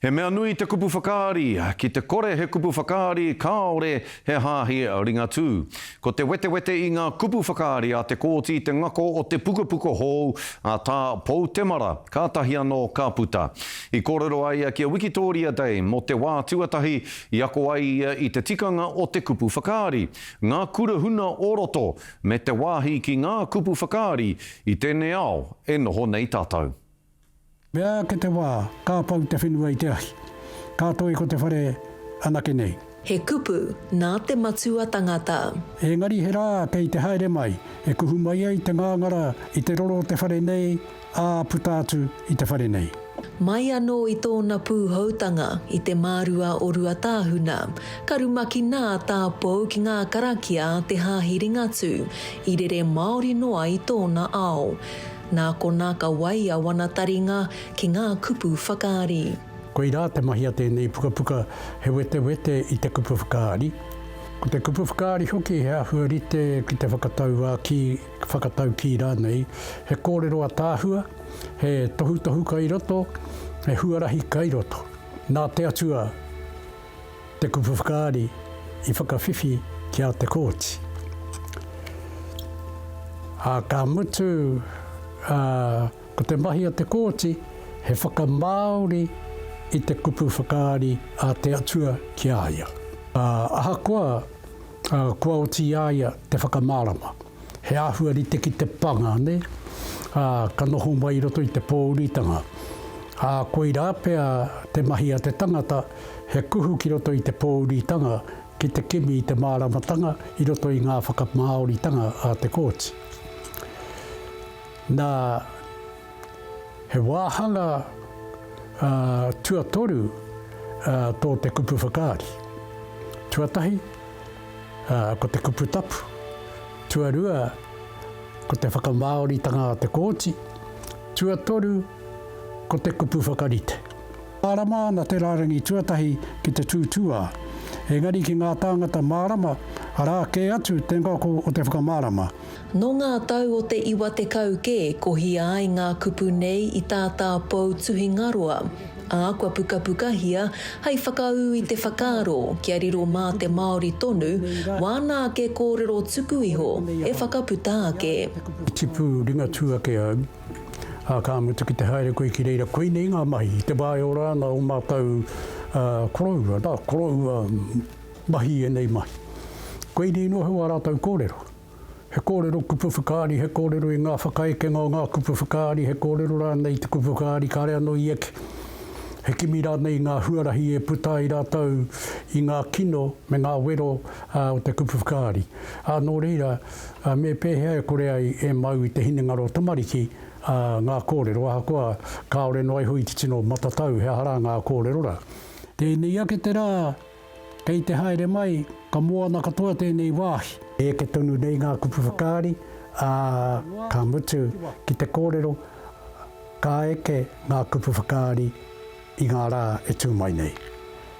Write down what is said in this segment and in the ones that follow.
He mea nui te kupu whakaari, ki te kore he kupu whakaari kāore he hāhi Ringatū. Ko te wetewete i ngā kupu whakaari a Te Kooti te ngako o te pukapuka hou a Tā Pou Temara, kātahi anō ka puta. I kōrero a ia ki a Wikitōria Day mō te wā tuatahi i ako ai ia i te tikanga o te kupu whakaari, ngā kura huna o roto, me te wāhi ki ngā kupu whakaari i tēnei ao e noho nei tātou. Mea ake te wā, ka pau te whenua i te ahi. Ka toi ko te whare anake nei. He kupu nā te matua tangata. Engari he rā kei te haere mai, e kuhu mai ai te ngāngara i te roro o te whare nei, ā puta atu i te whare nei. Mai anō i tōna pūhoutanga i te mārua o Ruatāhuna, ka rumaki nā tā Pou ki ngā karakia a te Hāhi Ringatū, i rere māori noa i tōna ao. Nā konā ka wai a wana taringa ki ngā kupu whakaari. Koirā te mahi a tēnei pukapuka, he wetewete i te kupu whakaari. Ko te kupu whakaari hoki he āhua rite ki te whakatauākī, whakataukī rānei, he kōrero ataahua, he tohutohu kai roto, he huarahi kai roto. Nā te Atua! Te kupu whakaari i whakawhiwhi ki a Te Kooti. Ā, ka mutu, ā, ko te mahi a Te Kooti he whakamāori i te kupu whakaari a te Atua ki a ia. Ā, ahakoa, ā, kua oti i a ia te whakamārama. He āhua rite ki te panga, nē? Ā, ka noho mai i roto i te pōuritanga. Ā, koirā pea te mahi a te tangata, he kuhu ki roto i te pōuritanga ki te kimi i te māramatanga i roto i ngā whakamāoritanga a te kōti. Nā, he wāhanga tuatoru tō te kupu whakaari. Tuatahi, Ā, ko te kupu tapu, tuarua, ko te whakamāoritanga a Te Kooti, tuatoru, ko te kupu whakarite. Mārama ana te rārangi tuatahi ki te tūtūā, engari ki ngā tāngata mārama, arā kē atu te ngako o te whakamārama. Nō ngā tau o te iwa tekau kē kohia ai ngā kupu nei i tā tāpou tuhingaroa, ā, kua pukapukahia hei whakaū i te whakaaro kia riro mā te Māori tonu wāna ake kōrero tuku iho e whakaputa ake. Tipu Ringatū ake au, ā, ka mutu ki te haere koe ki reira koinei ngā mahi, te wāeora ana o mātou koroua, nā, koroua. Mahi ēnei mahi. Koinei noa hou ā rātou kōrero. He kōrero kupu whakaari, he kōrero i ngā whakaekenga o ngā kupu whakaari, he kōrero rānei i te kupu whakaari kāre anō i eke. He kimi rānei i ngā huarahi e puta ai rātou i ngā kino me ngā wero o te kupu whakaari. Ā, nō reira, me pēhea e kore ai e mau i te hinengaro tamariki ngā kōrero ahakoa kāore noa iho i te tino matatau he aha rā ngā kōrero rā? Tēnei ake te rā. Kei te haere mai, ka moana katoa tēnei wāhi. Eke tonu nei ngā kupu whakaari, ā, ka mutu ki te kōrero, ka eke ngā kupu whakaari i ngā rā e tū mai nei.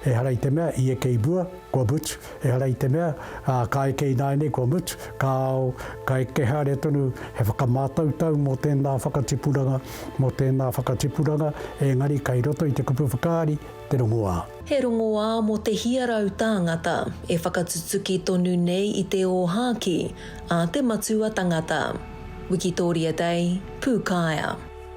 Ehara i te mea i eke i mua, kua mutu, ehara i te mea, ā, ka eke ināianei, kua mutu, ka ao, ka eke haere tonu he whakamātautau mō tēnā whakatipuranga, mō tēnā whakatipuranga, engari kei roto i te kupu whakaari, te rongoā. He rongoā mō te hia rau tāngata e whakatutuki tonu nei i te ōhākī a te matua tangata. Wikitoria Day, Pūkaea.